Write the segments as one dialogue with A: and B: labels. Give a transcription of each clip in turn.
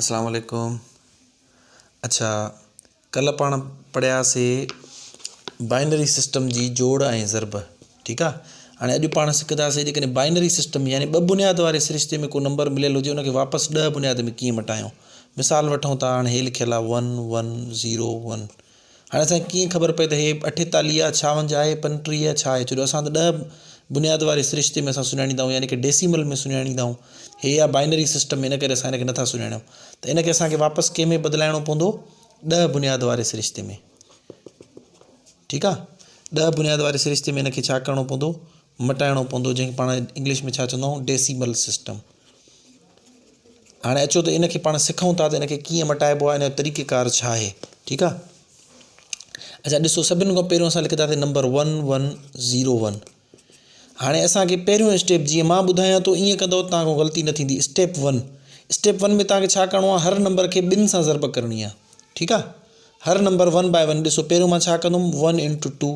A: اسلام عليڪم اڇا ڪلهه پاڻ پڙهياسي بائنري سسٽم جي جوڙ ۽ ضرب ٺيڪ آ هاڻي اڄ پاڻ سکداسي جيڪڏهن بائنري سسٽم يعني ٻه بنياد واري سرشتي ۾ ڪو نمبر مليل هجي ان کي واپس ڏهه بنياد ۾ ڪيئن مٽايون مثال وٺون ٿا هاڻي هي لکيل آ ون ون زيرو ون هاڻي اسان کي ڪيئن خبر پئي ته هي اٺيتاليهه آهي، ڇاونجهه آهي، پنٽيهه آهي، ڇا آهي؟ ڇو جو اسان ته ڏهه بنياد واري سرشتي ۾ اسان سڃاڻيندا آهيون يعني ڪي ڊيسيمل ۾ سڃاڻيندا آهيون. هي آهي بائنري سسٽم ان ڪري اسان هن کي نٿا سڃاڻيون ته ان کي اسان کي واپس ڪنهن ۾ بدلائڻو پوندو ڏهه بنياد واري سرشتي ۾ ٺيڪ آهي ڏهه بنياد واري سرشتي ۾ ان کي ڇا ڪرڻو پوندو مٽائڻو پوندو جنهن کي پاڻ انگلش ۾ ڇا چوندا آهيون ڊيسيمل سسٽم. هاڻي اچو ته ان کي پاڻ سکون ٿا ته ان کي ڪيئن مٽائبو آهي ان جو طريقه ڪار ڇا آهي ٺيڪ آهي اچا ڏسو سڀني کان پهريون اسان لکندا سين number one one zero one هاڻي اسانکي پهريون اسٽيپ جيئن مان ٻڌايان ٿو ائين ڪندو تان کان غلطي نه ٿيندي اسٽيپ ون اسٽيپ ون ۾ تانکي ڇا ڪرڻو آهي هر نمبر کي ٻن سان ضرب ڪرڻي آهي ٺيڪ آهي هر نمبر ون باء ون ڏسو پهريون مان ڇا ڪندم ون انٽو ٽو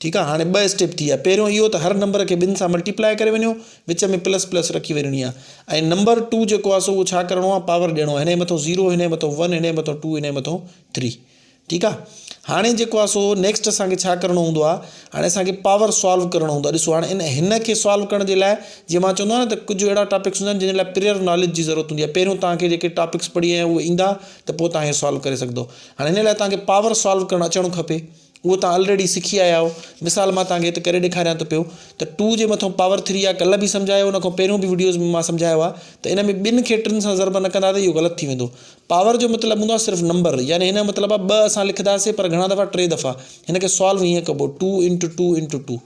A: ٺيڪ آ هاڻي ٻه اسٽيپ ٿي ويا پهريون اهو ته هر نمبر کي ٻن سان ملٽيپلائي ڪري وڃو وچ ۾ پلس پلس رکي وڃڻي آ ۽ نمبر ٽو جيڪو آ سو اهو ڇا ڪرڻو آ پاور ڏيڻو آ هنئي مٿو زيرو هنئي مٿو ون هنئي مٿو ٽو هنئي مٿو ٿري ٺيڪ آ هاڻي جيڪو آ سو نيڪسٽ اسان کي ڇا ڪرڻو هوندو آ هاڻي اسان کي پاور سالو ڪرڻو هوندو آ ڏسو هاڻي ان هن کي سالو ڪرڻ جي لاء جيئن مان چوندو آ نه ته ڪجهه اهڙا ٽاپڪس هوندا آهن جن جي لاء پريئر ناليج جي ضرورت هوندي آ پهريون توهان کي جيڪي ٽاپڪس پڙهي آيا آهيو اهي ايندا ته پوء توهان هي سالو ڪري سگهندو هاڻي هن لاء توهان کي پاور سالو ڪرڻ اچڻ کپي اهو توهان الريڊي سکي آيا آهيو مثال مان توهان کي هت ڪري ڏيکاريان ٿو پيو ته ٽو جي مٿو پاور ٿري آهي ڪلهه به سمجهايو ان کان پهريون به وڊيوز ۾ مان سمجهايو آهي ته ان ۾ ٻن کي ٽن سان ضرب نه ڪندا ته اهو غلط ٿي ويندو پاور جو مطلب هوندو آهي صرف نمبر يعني هن جو مطلب آهي ٻه اسان لکنداسين پر گهڻا دفعا ٽي دفعا هن کي سالو هيئن ڪبو two into two into two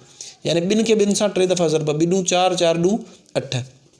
A: يعني ٻن کي ٻن سان ٽي دفعا ضرب ٻي ڏون چار چار ڏون اٺ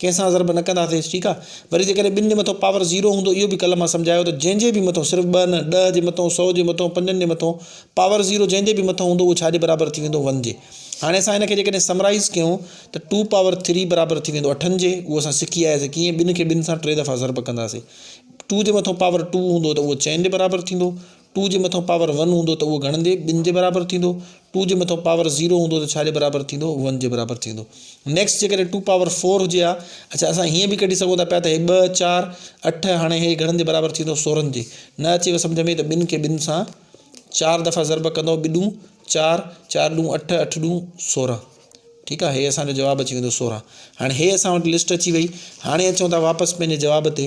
A: ڪنهن سان ضرب نه ڪنداسين ٺيڪ آ وري جيڪڏهن ٻن جي مٿو پاور زيرو هوندو اهو به ڪلهه مان سمجهايو ته جنهن جي به مٿو صرف ٻه نه ڏهه جي مٿو سو جي مٿو پنجن جي مٿو پاور زيرو جنهن جي به مٿو هوندو اهو ڇا جي برابر ٿي ويندو ون جي هاڻي اسان هن کي جيڪڏهن سمرائز ڪيون ته ٽو پاور ٿري برابر ٿي ويندو اٺن جي اهو اسان سکي آياسين ڪيئن ٻن کي ٻن سان ٽي دفعا ضرب ڪنداسين ٽو جي مٿو پاور ٽو هوندو ته اهو چئن جي برابر ٿيندو ٽو جي مٿان پاور ون هوندو ته اهو گهڻندي ٻن جي برابر ٿيندو. ٽو جي مٿان پاور زيرو هوندو ته ڇا جي برابر ٿيندو؟ ون جي برابر ٿيندو. نيڪسٽ جيڪڏهن ٽو پاور فور هجي ها. اڇا اسان هيئن به ڪڍي سگهون ٿا پيا ته هي ٻه، چار، اٺ هاڻي هي گهڻن جي برابر ٿيندو سورهن جي. نه اچيو سمجهه ۾ ته ٻن کي ٻن سان چار دفعا ضرب ڪندئو ٻه ڏون چار، چار ڏون اٺ، اٺ ڏون سورهن. ٺيڪ آهي هي اسان جو جواب اچي ويندو سورهن. هاڻي هي اسان وٽ لسٽ اچي وئي. هاڻي اچون ٿا واپس پنهنجي جواب تي.